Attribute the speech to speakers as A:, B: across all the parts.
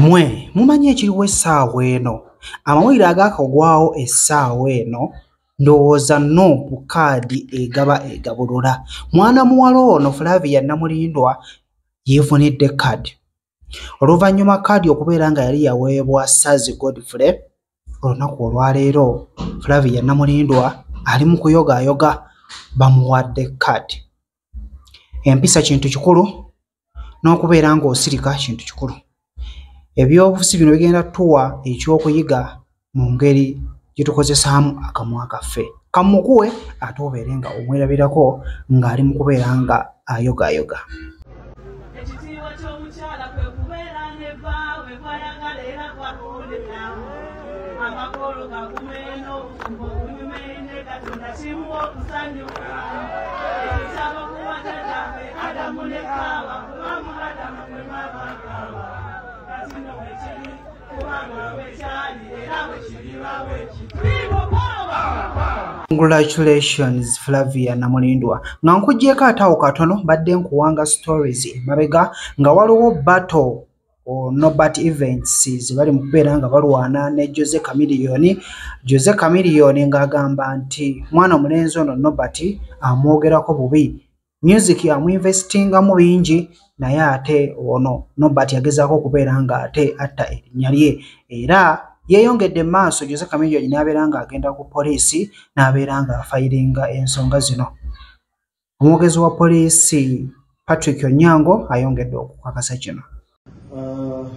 A: mwe mumanyi ekiriwo essaawa eno amawulire agaakagwawo essaawa eno ndowooza nuupu kaadi egaba egabulula mwana muwala ono flavia namulindwa yeefunidde kaadi oluvannyuma kaadi okubeera nga yali yaweebwa sazi godfrey olunaku olwaleero flavia namulindwa ali mu kuyogaayoga bamuwadde kaadi empisa kintu kikulu n'okubeera ng'osirika kintu kikulu ebyobufuzi bino bigenda tuwa ekyokuyiga mu ngeri gye tukozesaamu akamwa kaffe kamukuwe ate obeere nga omwerabirako ng'ali mu kubeera nga ayogayoga
B: ekitiibwa ky'omukyala kwe kubeera ne baawe kwayagala era kwakuwuliramu amakolo gakume n'obufumbo obunyume ne katonda kimuwa okusanyuka Adamu ne Kaawa, kubanga Adamu bwe mwava Kaawa. Kati nno bwe kiri, kubanga bwe kyali era bwe kiriba bwe kiti. Bibo
A: Kaawa! Congratulations Flavia Namulindwa nga nkugyeko ataawo katono badde nkuwanga stories mabega nga waliwo battle Norbert Events ze bali mu kubeera nga balwana ne Jose Chameleon. Jose Chameleon ng'agamba nti mwana omulenzi ono Norbert amwogerako bubi music amuinvestingamu bingi naye ate ono nobat yagezaako okubeera nga ate atta erinnya lye era yeeyongedde maaso jose kamilioni n'abeera nga agenda ku poliisi n'abeera nga afayiringa ensonga zino omwogezi wa poliisi patrick onyango ayongedde okukakasa kino Uh,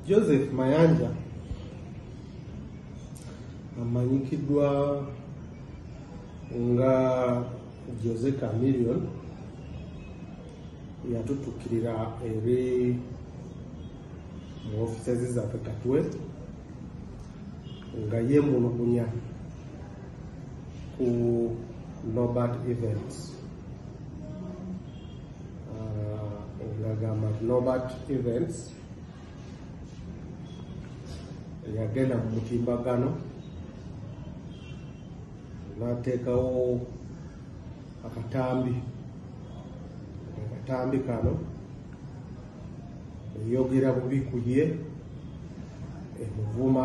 C: Joseph Mayanja amanyikiddwa nga Jose Chameleon yatutukirira eri mu offices zaffe Katwe nga yemulugunya ku Nobert Events. okugamba nti nobat events yagenda mu mutimbagano nateekawo akatambi akatambi kano eyogera bubi ku ye emuvuma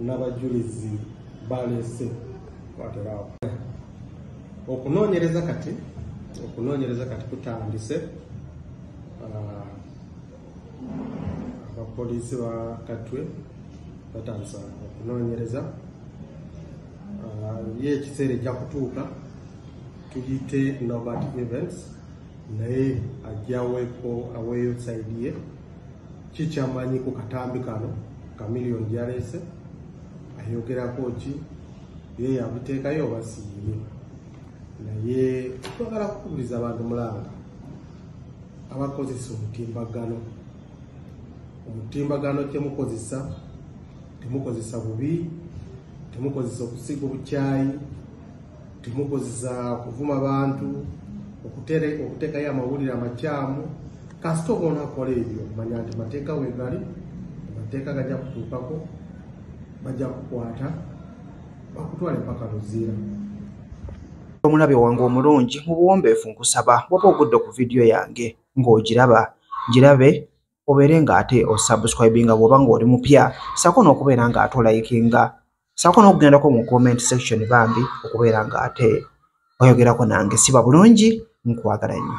C: n'abajulizi baleese kwateraawo okunoonyereza kati okunoonyereza kati kutandise ah, abapoliisi ba katwe batandisa okunoonyereza ah, ye ekiseera ejja kutuuka tuyite nobert events naye ajja aweeko aweeyo saidi ye kikyamanyi ku katambi kano kamiliyoni gyaleese ayogerako ki ye yabuteekayo oba siyiye naye twagala kukubiriza abantu mulanga abakozesa omutimbagano omutimbagano kyemukozesa temukozesa bubi temukozesa okusiga obukyayi Temukozesa kuvuma bantu okutere okutekayo amawulire amakyamu kasita oba onakola ebyo manya nti mateeka wegali amateeka gajja kutuukako bajja kukwata bakutwala empaka luziira
A: omulabe wange omulungi mu buwombeefu nkusaba waba ogudde ku vidiyo yange ng'ogiraba girabe obeere nga ate osubscribinga bwoba nga oli mupya sako n'okubeera nga ate olayikinga sako n'okugendako mu comment section bambi okubeera nga ate oyogerako nange siba bulungi nkwagala nnyo